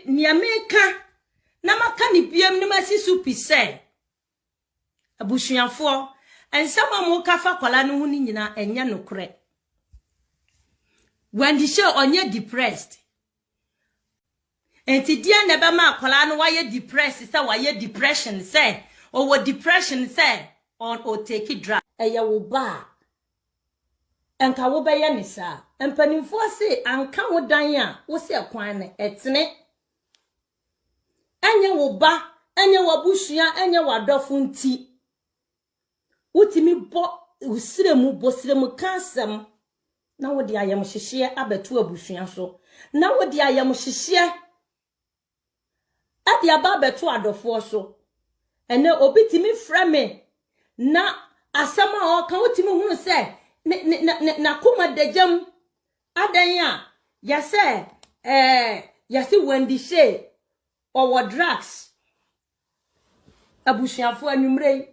Nea meka na maka ne biam ne masi so pi sɛ abusuafoɔ nsɛm a moka fa kwala no ho no nyinaa ɛnyɛ nokorɛ Wendy hyɛ ɔnyɛ depressed nti deɛ na ɛbɛma akwala no wayɛ depressed sɛ wayɛ depression sɛ ɔwɔ depression sɛ ɔtake drug ɛyɛ wo ba a anka wobɛyɛ ne saa. Mpanimfoɔ se anka wo dan a wose ɛkwan no ɛtene. Ɛnyɛ wo ba, ɛnyɛ w'abusua, ɛnyɛ w'adɔfo nti. Wotumi bɔ srɛ mu, bɔ srɛ mu ka asɛm na wode ayamhyehyeɛ abɛto abusua so. Na wode ayamhyehyeɛ de aba abɛto adɔfoɔ so. Ɛnɛ obi tumi frɛ me na asɛm a ɔka wotumi hunu sɛ n'akoma dagyam adɛn a yɛsɛ ɛɛ yɛse Wendy Shay ɔwɔ drugs abusuafoɔ anwummerɛ yi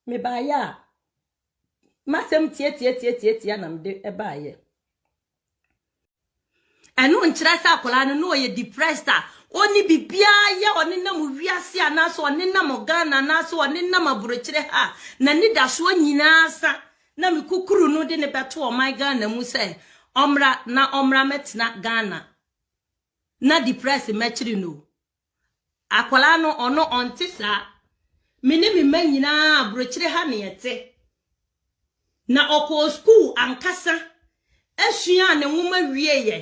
Mebaeɛ a, m'asɛm tiatiatiatiatia na mede baeɛ. Ɛno nkyerɛ sɛ akwadaa no na ɔyɛ depressed a ɔnni biribiara yɛ, ɔnenam wiase anaasɛ ɔnenam Ghana anaasɛ ɔnenam aburokyire ha a n'anidasoɔ nyinaa sa na mekukuru no de no bɛto ɔman Ghana mu sɛ ɔmmra na ɔmmra mmɛtena Ghana na depressed mmɛkyere no o. Akwadaa no, ɔno ɔnte saa. Me ne me mma nyinaa, aburokyire ha na yɛte. Na ɔkɔɔ sukuu ankasa suaa ne nwoma wieeɛ.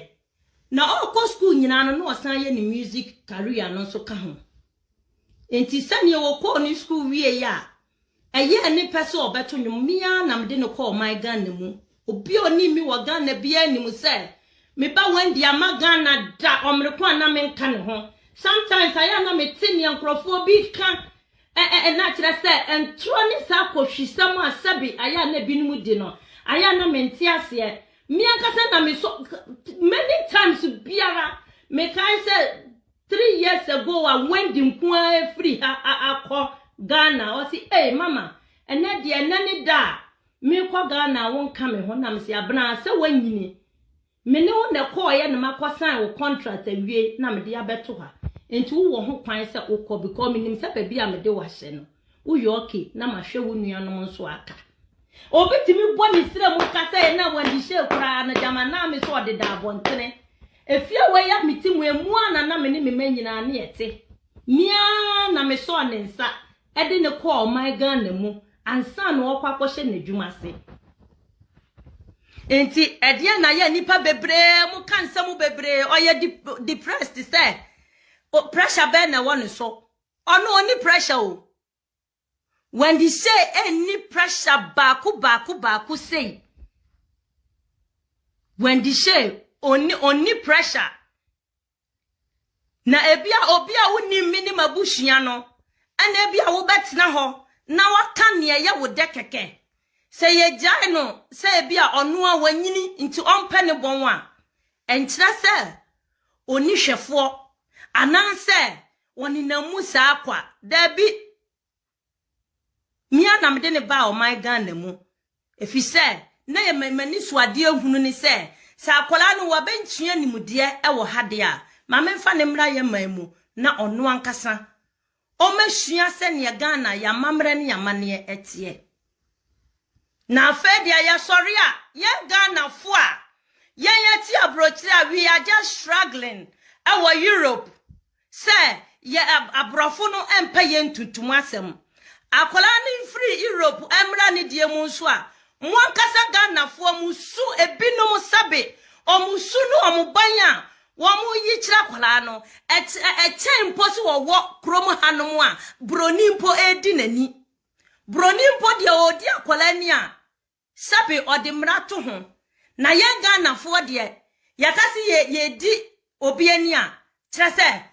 Na ɔrekɔ sukuu nyinaa no, na ɔsan yɛ ne music career no nso ka ho. Nti sɛdeɛ ɔkɔɔ ne sukuu wieeɛ a, Ɛyɛɛ ne pɛ sɛ ɔbɛto nnwom, me ara na mede no kɔɔ ɔman Ghana mu. Obi a onim me wɔ Ghana biara nim sɛ me ba Wendy amma Ghana da, ɔmere ko a na menka ne ho. Sometimes ayɛ a na mete nea nkurɔfoɔ bi reka ɛ-ɛ-ɛ na kyerɛ sɛ ntorɔ ne saa kohwisɛm a sɛbe ayɛ a na ebinom di no, ayɛ a na mente aseɛ. Me ankasa na mesɔ, many times biara mekae sɛ Three years ago a Wendy nko ara afiri ha akɔ Ghana, ɔse ei mama ɛnɛ deɛ ɛnɛ ne da a mekɔ Ghana a wonka me ho, na mese Abena sɛ woanyini, me ne wo na ɛkɔɔeɛ na makɔ sign wo contract awie na mede abɛto ha, nti wowɔ ho kwan sɛ wokɔ because menim sɛ baabi a mede wo ahyɛ no Woyɛ okay na mahwɛ wo nuanom nso aka. Obi tumi bɔ ne srɛ mu ka sɛ na wɔadihyɛ koraa no gyama naa me sɛ ɔdeda abɔntene. Efie a wɔyɛ me ti mu emu a na na me ne me mma nyinaa ne ɛte. Me ara na mesɔɔ ne nsa de no kɔɔ ɔman Ghana mu ansa na ɔrekɔ akɔhyɛ n'adwuma ase. Enti ɛdeɛ na yɛ nnipa bebree mo ka nsɛm bebree ɔyɛ depressed sɛ pressure bɛn na ɛwɔ ne so Ɔno ɔnni pressure o. Wendy Shay ɛnni pressure baako baako baako sei. Wendy Shay ɔnni ɔnni pressure. Na ebi a obi a wonim me ne m'abusua no ɛna ebi a wobɛtena hɔ na waka nea ɛyɛ wo dɛ kɛkɛ. Sɛ yɛgyae no sɛ ebi a ɔno a wanyini nti ɔmpɛ ne bɔn a, ɛnkyerɛ sɛ ɔnni hwɛfoɔ anaasɛ Wɔnenam mu saa kwa. Dabi! Me ara na mede no baa ɔman Ghana mu efisɛ na ɛyɛ m'ani so adeɛ hunu ne sɛ, sɛ akwadaa no wabenkyea nimdeɛ wɔ ha deɛ a, ma memfa no mmra yɛn man mu na ɔno ankasa ɔmmɛsua sɛdeɛ Ghana, yɛn amammerɛ ne yɛn amanneɛ teɛ. Na afei deɛ yɛsɔre a yɛn Ghanafoɔ a yɛn yɛte aburokyire a we are just struggling ɛwɔ Europe sɛ yɛ aborɔfo no mpɛ yɛn ntuntum asɛm. Akwadaa no mfiri Europe ɛmmra ne deɛ mu nso a mo ankasa Ghanafoɔ mo su ebinom sɛbe wɔn su ne wɔn ban a wɔn yi kyerɛ akwadaa no ɛkyɛn mpo sɛ wɔwɔ kurom hanom a buroni mpo ɛredi n'ani. Broni mpo deɛ ɔredi akwadaa ni a, sɛbe ɔde mmara to ho. Na yɛn Ghanafoɔ deɛ, yɛka se yɛ yɛredi obi ani a, kyerɛ sɛ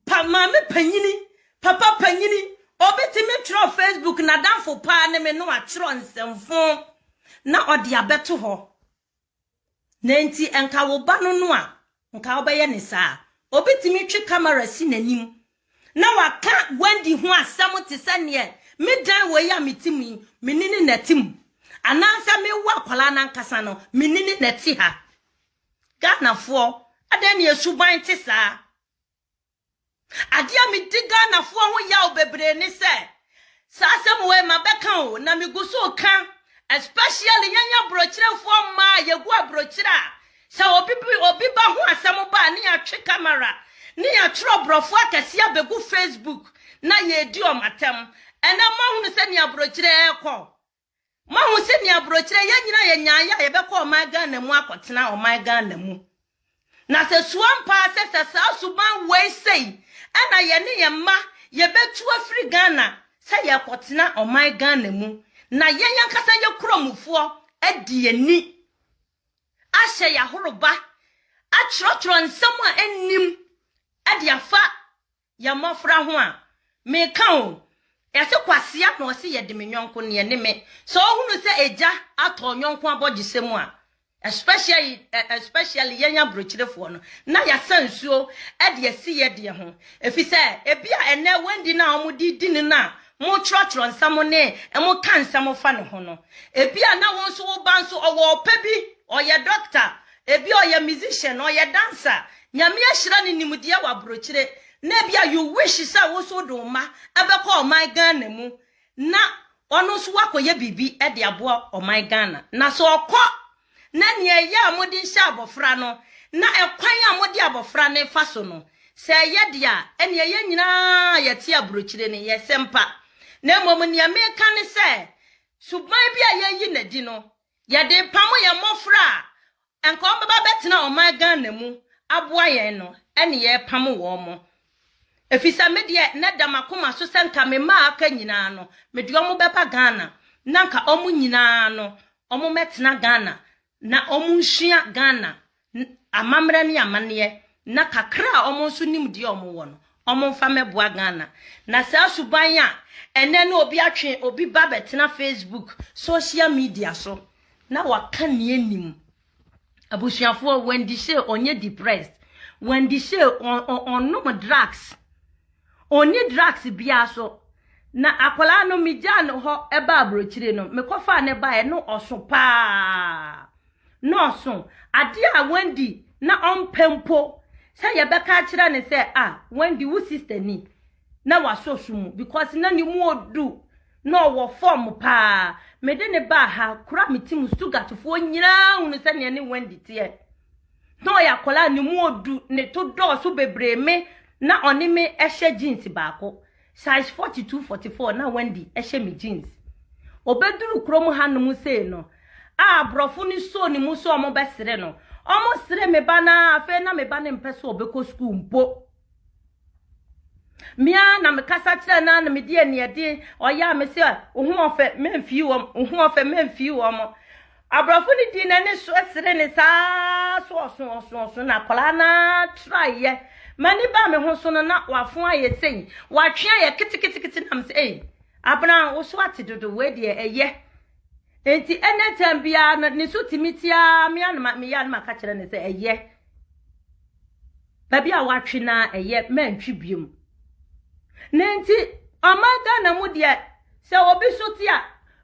pa maame panyini, papa panyini, obi tumi twerɛ Facebook n'adamfo paa ne me na watwerɛ nsɛmfoo na ɔde abɛto hɔ. Na enti nka wo ba no no a nka wobɛyɛ no saa. Obetumi twe kamera si n'anim na waka Wendy ho asɛm te sɛ neɛ me dan wɔ yi a mete mu yi, me ne no na ɛte mu. Anaasɛ mewo akwadaa no ankasa no, me ne no na ɛte ha. Ghanafoɔ, adɛn ne yɛn suban te saa? Adeɛ a medi Ghanafoɔ ho yaw bebree ne sɛ saa asɛm wei mabɛka o na megu so reka especially yɛn aburokyerɛfoɔ mmaa a yɛgu aburokyerɛ a sɛ obi bi obi ba ho asɛm ba a ne yɛatwe kamera ne yɛatwerɛ aborɔfoɔ akɛseɛ abɛgu Facebook na yɛredi wɔn atɛm. Ɛnɛ moahunu sɛnea aburokyerɛ ɛrekɔ. Moahu sɛnea aburokyerɛ yɛn nyinaa yɛ nyaayɛ a yɛbɛkɔ ɔman Ghana mu akɔtena ɔman Ghana mu. Na sɛ su ampa ara sɛ sɛ saa suban wei sei ɛna yɛne yɛn mma yɛbɛtu afiri Ghana sɛ yɛrekɔtena ɔman Ghana mu na yɛn ankasa yɛ kuromufoɔ adi yɛn ni ahyɛ yɛn ahoroba atwerɛtwerɛ nsɛm a ɛnnim de afa Yɛ mmɔfra ho a, meka o. Yɛse kwasea na ɔse yɛde me yɔnko neɛ ɛne me. Sɛ wohunu sɛ agya atɔ ɔyɔnko abɔgyesɛ mu a, especially especially yɛn abrokyirefoɔ no, na yɛasa nsuo de asi yɛ deɛ ho. Ɛfiri sɛ ebia ɛnnɛ Wendy no a wɔde di no no a motwerɛtwerɛ nsɛm ne moka nsɛm fa ne ho no, ebia na wo nso wo ba nso ɔwɔ ɔpɛ bi, ɔyɛ dɔkta, Ebia ɔyɛ musician, ɔyɛ dancer, Nyame ahyira no nimdeɛ wɔ abrokyire, na ebia you wish sɛ wo nso wode wo mma bɛkɔ ɔman Ghana mu na ɔno nso wakɔyɛ biribi de aboa ɔman Ghana. Na sɛ ɔkɔ na nea ɛyɛ a mode nhyɛ abɔfra no na ɛkwan a mode abɔfra no fa so no, sɛ ɛyɛ deɛ a, ɛnneɛ yɛn nyinaa a yɛte abrokyire no, yɛsɛ mpa. Na mmom nea meka ne sɛ, suban bi a yɛayi no adi no, Yɛde repamo yɛn mmɔfra a anka wɔbɛba bɛtena ɔman Ghana mu aboa yɛn no ne yɛrepamo wɔn. Efisɛ me deɛ na ɛda m'akoma so sɛ nka me mma a aka nyinaa no mede wɔn bɛba Ghana na anka wɔn nyinaa no wɔmmɛtena Ghana na wɔnsua Ghana amammerɛ ne amanneɛ na kakra a wɔn nso nim deɛ wɔn wɔ no, wɔn nfa mmɛboa Ghana. Na saa suban a ɛnɛ ne obi atwe obi ba bɛtena Facebook, social media so na waka nea ɛnim. Abusuafoɔ, Wendy Shay ɔnyɛ depressed. Wendy Shay ɔnom drugs. Ɔnni drugs biara so. Na akwadaa no, megyaa no hɔ baa aburokyire no, mekɔfaa no baeɛ, na ɔso paa. Na ɔso. Adeɛ a Wendy na ɔmpɛ mpo sɛ yɛbɛka akyerɛ no sɛ, ah, Wendy, wo sister ni, na wasɔ su mu because na ne mu ɔdu, na ɔwɔ fam paa. Mede no baa ha, kura me ti mu, Stuttgartfoɔ nyinaa hunu sɛdeɛ ne Wendy teɛ. na ɔyɛ akwadaa a ne mu odu, ne to dɔɔso bebree me na ɔne me hyɛ jeans baako, size 42, 44 na Wendy hyɛ me jeans. Obeduru kurom hanom sei no, a aborɔfo no soo ne mu sɛ wɔbɛsere no, wɔsere me ba no ara, afei na me ba no mpɛ sɛ ɔbɛkɔ sukuu mpo. Me ara na mekasa kyerɛ no ara na medi aniɛden. Ɔyɛ a mese a wo ho ɔfɛ memfii wɔn, wo ho ɔfɛ memfii wɔn. Aborɔfo no dii n'ani so sere ne saa so ɔso ɔso ɔso na akwadaa no ara traeɛ. M'ani baa me ho so no na wafo ayɛ sei, watwe ayɛ keteketekete na mese ei, Abena wo so ate dodo wei deɛ ɛyɛ. Nti ɛnɛ tɛm biara no ne so tumi tiaa me ara na ma- meyɛ a na maka kyerɛ no sɛ ɛyɛ. Baabi a wɔatwe no ara ɛyɛ mantwi biom. Na enti ɔman Ghana mu deɛ sɛ obi so te a,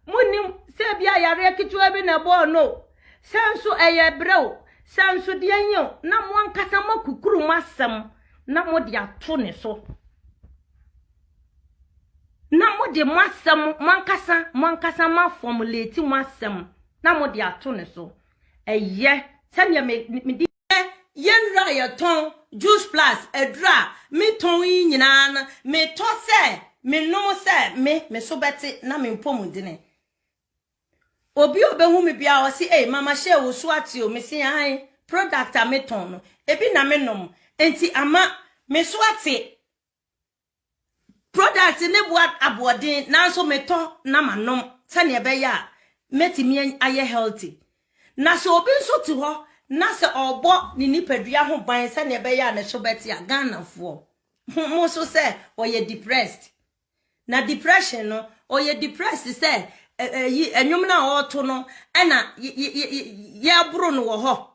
monnim sɛ ebia yareɛ ketewa bi na ɛbɔɔ no o, sɛ nso ɛyɛ brɛ o, sɛ nso deɛn yi o, na mo ankasa moakukuru mo asɛm na mode ato ne so. Na mode mo asɛm mo ankasa mo ankasa moafɔmuleti mo asɛm na mode ato ne so. Ɛyɛ sɛdeɛ mede Nnɛ yɛn nnuro a yɛtɔn, juice plus aduro a metɔn yi nyinaa no, metɔ sɛ menom sɛ me me so bɛte na me mpɔmudene. Obi a ɔbɛhu me biara ɔse, ei mama hyɛ wo so ate o, mese ae, product a metɔn no, ebi na menom, nti ama me so ate. Product no boa aboɔden nanso metɔ na manom sɛnea ɛbɛyɛ a mɛtumi ayɛ healthy. Na sɛ obi nso te hɔ na sɛ ɔrebɔ ne nipadua ho ban sɛnea ɛbɛyɛ a ne so bɛte a, Ghanafoɔ, mo so sɛ ɔyɛ depressed. Na depression no, ɔyɛ depressed sɛ ɛyi ɛnwom no a ɔreto no ɛna yɛboro no wɔ hɔ.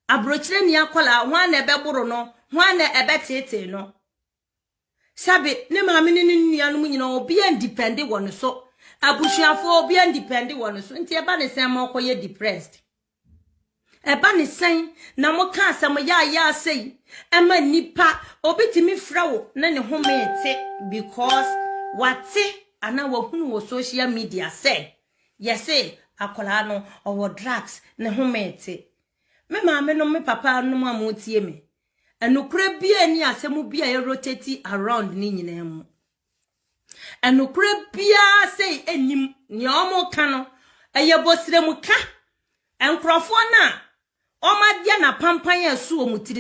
Aburokyire nni akwadaa, hwan na ɛbɛboro no, hwan na ɛbɛteetee no? Sɛbe ne maame ne ne nuanom nyinaa obiara ndipɛnde wɔ ne so. Abusuafoɔ obiara ndipɛnde wɔ ne so. Nti ɛba ne sɛn ma ɔkɔyɛ depressed? Ɛba ne sɛn na moka asɛm yaayaa sei ma nnipa? Obi tumi frɛ wo ne ne home te because wate anaa wahunu wɔ social media sɛ Yɛse akwadaa no ɔwɔ drugs ne ho mete. Me maame nom me papa nom a mo tie me. Ɛnokorɛ bia ni asɛm bi a yɛ rotate around ne nyinaa mu. Ɛnokorɛ bia sei ɛnim nea ɔmo ka no ɛyɛ bosrɛ mu ka. Nkorɔfoɔ no a ɔmo adeɛ na pampan a ɛso ɔmo tiri